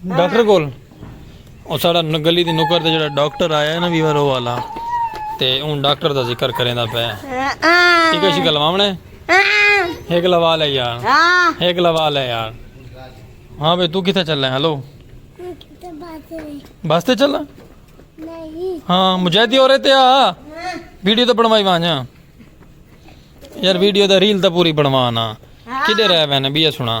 Doctor کول او ساڑا گلی دی نکر تے جڑا ڈاکٹر آیا ہے نا ویور او والا تے اون ڈاکٹر دا ذکر کریندا پیا ٹھیک ہے شی گلواونے ایک لوا لے یار ایک لوا لے یار ہاں بھائی تو کتھے چلے ہلو بس تے چلا ہاں مجاہدی ہو رہے تے آ ویڈیو تو بنوائی وانجا یار ویڈیو دا ریل تا پوری بنوانا کدے رہ وینے بیہ سنا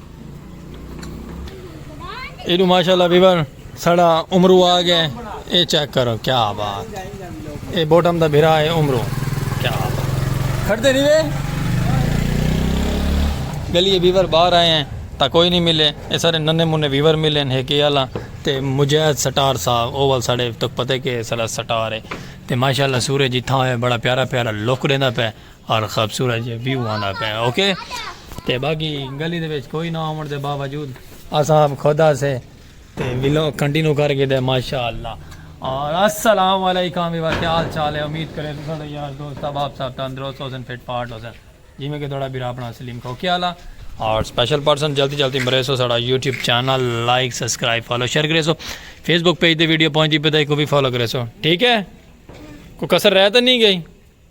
ایڈو ماشاءاللہ ویور سڑا عمرو آ گئے اے چیک کرو کیا بات اے بوٹم دا بھرا ہے عمرو کیا بات کھڑتے نہیں وے گلیے ویور باہر آئے ہیں تا کوئی نہیں ملے اے سارے ننے منے ویور ملے ہیں کہ اللہ تے مجاہد سٹار صاحب اول ساڑے تک پتے کہ سلا سٹار ہے تے ماشاءاللہ سورج جتھا ہوئے بڑا پیارا پیارا لوک دینا پہ ہر خوبصورت جے ویو آندا پے اوکے تے باقی گلی دے وچ کوئی نہ ہون دے باوجود اساں اب خود اسے تے ویلو کنٹینو کر کے دے ماشاءاللہ اور السلام علیکم ویور کیا حال چال ہے امید کرے تو سارے یار دوست احباب صاحب تندرست ہو سن فٹ پارٹ ہو سن جی میں کہ تھوڑا بھی اپنا سلیم کھو کیا لا اور سپیشل پرسن جلدی جلدی مرے سو سارا YouTube channel like subscribe follow share کرے سو فیس بک پیج دے ویڈیو پہنچی پتہ کو بھی فالو کرے سو ٹھیک ہے کوئی کسر رہ تو نہیں گئی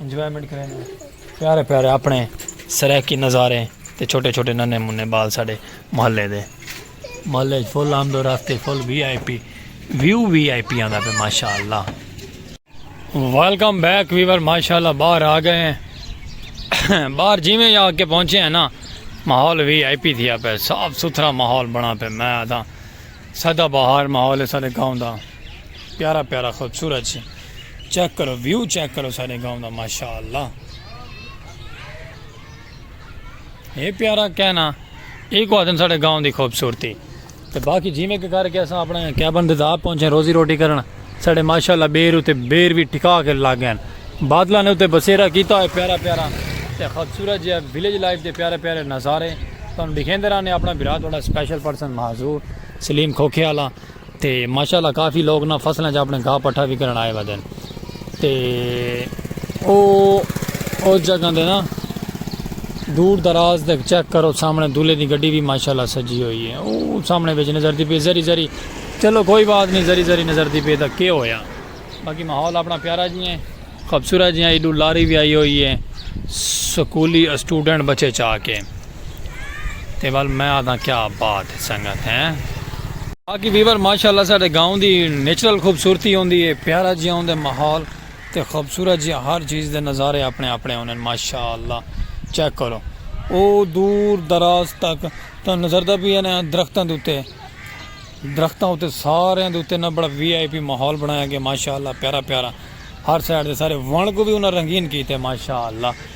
انجوائمنٹ کریندے ہیں پیارے پیارے اپنے سرائیکی نظارے تے چھوٹے چھوٹے ننے منے بال ساڈے محلے دے محلے وچ فل آمد و رفت full V I P view V I P آندا پہ ماشاءاللہ ویلکم بیک ویور ماشاءاللہ باہر آ گئے ہیں باہر جیویں آ کے پہنچے ہیں نا ماحول وی آئی پی تھیا پہ صاف ستھرا ماحول بنا پہ میں آتا سدا باہر ماحول ہے سارے گاؤں دا پیارا پیارا خوبصورت چھ چیک کرو ویو چیک کرو سارے گاؤں دا ماشاءاللہ اے پیارا کہنا اے کو آدن سارے گاؤں دی خوبصورتی تے باقی جی میں کر کے اساں اپنا کیبن دے دا پہنچے روزی روٹی کرنا سارے ماشاءاللہ بیر تے بیر بھی ٹھکا کے لگ گئے بادلہ نے تے بسیرا کیتا ہے پیارا پیارا تے خوبصورت جی ویلیج لائف دے پیارے پیارے نظارے تم دکھیں دے رہنے اپنا برا تھوڑا سپیشل پرسن معذور سلیم کھوکھے والا تے ماشاء اللہ کافی لوگ نہ فصلاں وچ اپݨے گھاہ پٹھا وی کرݨ آئے ودن تے او اس جگہ دے نہ دور دراز تک چیک کرو سامݨے دولھے دی گڈی وی ماشاء اللہ سجی ہوئی ہے او سامݨے وچ نظر دی پئی ذری ذری چلو کوئی بات نہیں ذری ذری نظر دی پئی تاں کے ہویا باقی ماحول اپݨا پیارا جی ہیں خوبصورت جی ہیں ایڈو لاری وی آئی ہوئی ہے سکولی اسٹوڈنٹ بچے چا کے۔ تے ول میں آدھاں کیا بات ہے سنگت ہیں۔ باقی ویور ماشاءاللہ ساڈے گاؤں دی نیچرل خوبصورتی ہوندی ہے پیارا جیاں ہوندے ماحول تے خوبصورت جیاں ہر چیز دے نظارے اپنے اپنے ہوندن ماشاءاللہ چیک کرو او دور دراز تک تانوں نظردا پیا نا درختاں دے اتے درختاں اتے ساریاں دے اتے نا بڑا وی آئی پی ماحول بنایا گیا ماشاءاللہ پیارا پیارا ہر سائیڈ دے سارے وݨ کو وی انہاں رنگین کیتے ماشاءاللہ۔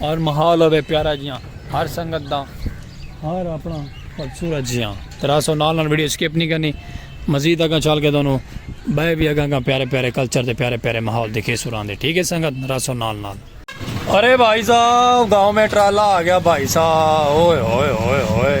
ہر محال ہوے پیارا جیاں ہر سنگت دا ہر اپنا خوبصورت جیاں ترا سو نال نال ویڈیو سکپ نہیں کرنی مزید اگاں چال کے دونوں بے بھی اگاں اگاں پیارے پیارے کلچر دے پیارے پیارے ماحول دکھے سوران دے ٹھیک ہے سنگت راسو نال نال ارے بھائی صاحب گاؤں میں ٹرالا آ گیا بھائی صاحب اوئے ہوئے ہوئے ہوئے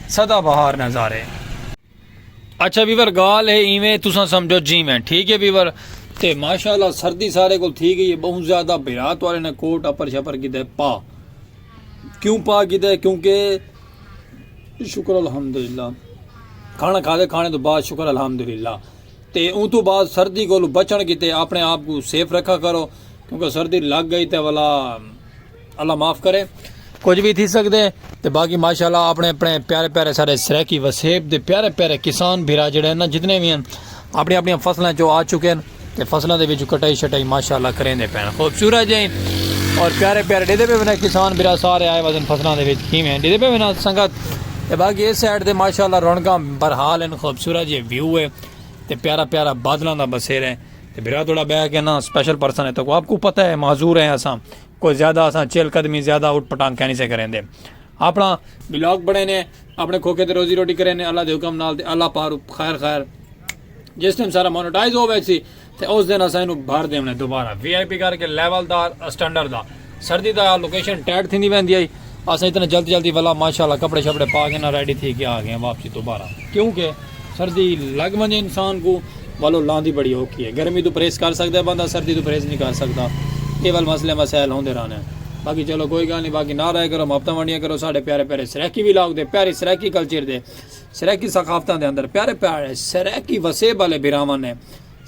سدا بہار نظارے اچھا ویور گال ہے ایویں تساں سمجھو جی میں ٹھیک ہے ویور تے ماشاءاللہ سردی سارے کو تھی گئی ہے بہت زیادہ بھرا توارے نے کوٹ اپر شپر کی دے پا کیوں پا کی دے کیونکہ شکر الحمدللہ کھانا کھا دے کھانے تو بعد شکر الحمدللہ تے اون تو بعد سردی کو بچن کی تے اپنے آپ کو سیف رکھا کرو کیونکہ سردی لگ گئی تے والا اللہ معاف کرے کچھ بھی تھی سکتے ہیں تو باقی ماشاءاللہ اپنے اپنے پیارے پیارے سارے سریکی وسیب دے پیارے پیارے کسان بھیرا جڑے ہیں نا جتنے بھی ہیں اپنی اپنی فصلیں جو آ چکے ہیں تو فصلیں دے وچوں کٹائی شٹائی ماشاءاللہ کریں دے پین خوبصورت جائیں اور پیارے پیارے ڈیدے پہ بنا کسان بھیرا سارے آئے وزن فصلیں دے وچ کیویں ہیں ڈیدے پہ بنا سنگت تے باقی اس سائڈ دے ماشاءاللہ رونگاں برحال ہیں خوبصورت جی ویو ہے تے پیارا پیارا بادلاں دا بسیر ہے تے بھرا توڑا بہ کے نا سپیشل پرسن ہے تاکو آپ کو پتہ ہے معذور ہیں اساں کوئی زیادہ اساں چیل قدمی زیادہ اٹھ پٹانگ کہنی سے کریں دے اپنا بلاگ بڑھے نے اپنے کھوکے تے روزی روٹی کریں نے اللہ دے حکم نال تے اللہ پارو خیر خیر جس ٹائم سارا مونیٹائز ہو ویسی تے اس دن اساں انو بھر دیونے دوبارہ وی آئی پی کر کے لیول دا سٹینڈر دا سردی دا لوکیشن ٹائٹ تھیندی ویندی ہئی اساں اتنا جلد جلدی ولا ماشاءاللہ کپڑے شپڑے پا کے نا ریڈی تھی کے آ گئے واپسی دوبارہ کیونکہ سردی لگ ونجے انسان کو ولو لاندی بڑی اوکھی ہے گرمی تو پریس کر سکدا ہے بندہ سردی تو پریس نہیں کر سکدا اے ول مسئلے مسائل ہوندے رہنے باقی چلو کوئی گل نہیں باقی نہ رہے کرو محبتاں ونڈیاں کرو ساڈے پیارے پیارے سرائیکی ولاگ دے پیارے سرائیکی کلچر دے سرائیکی ثقافتاں دے اندر پیارے پیارے سرائیکی وسیب والے بھراواں نے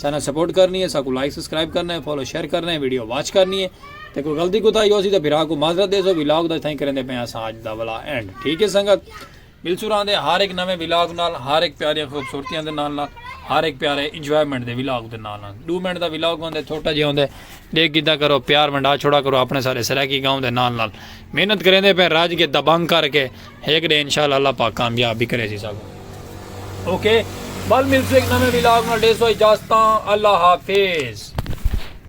ساناں سپورٹ کرنی ہے ساکوں لائک سبسکرائب کرنا ہے فالو شیئر کرنا ہے ویڈیو واچ کرنی ہے تے کوئی غلطی کوتاہی ہوسی تے بھرا کو معذرت دیسو ولاگ دا اتھائیں کریندے پئے اساں اج دا ولا اینڈ ٹھیک ہے سنگت ملسو راندے ہر ایک نویں ولاگ نال ہر ایک پیاریاں خوبصورتیاں دے نال نال ہر ایک پیارے انجوائمنٹ دے ولاگ دے نال نال دو منٹ دا ولاگ ہوندے چھوٹا جے ہوندے دیکھ کیتا کرو پیار منڈا چھوڑا کرو اپنے سارے سرائیکی گاؤں دے نال نال محنت کریندے پئے راج کے دبنگ کر کے ہک ڈے انشاءاللہ اللہ پاک کامیاب بھی کریسی ساکوں اوکے بل ملسوں ہک نویں ولاگ نال ڈیسو اجازتاں اللہ حافظ.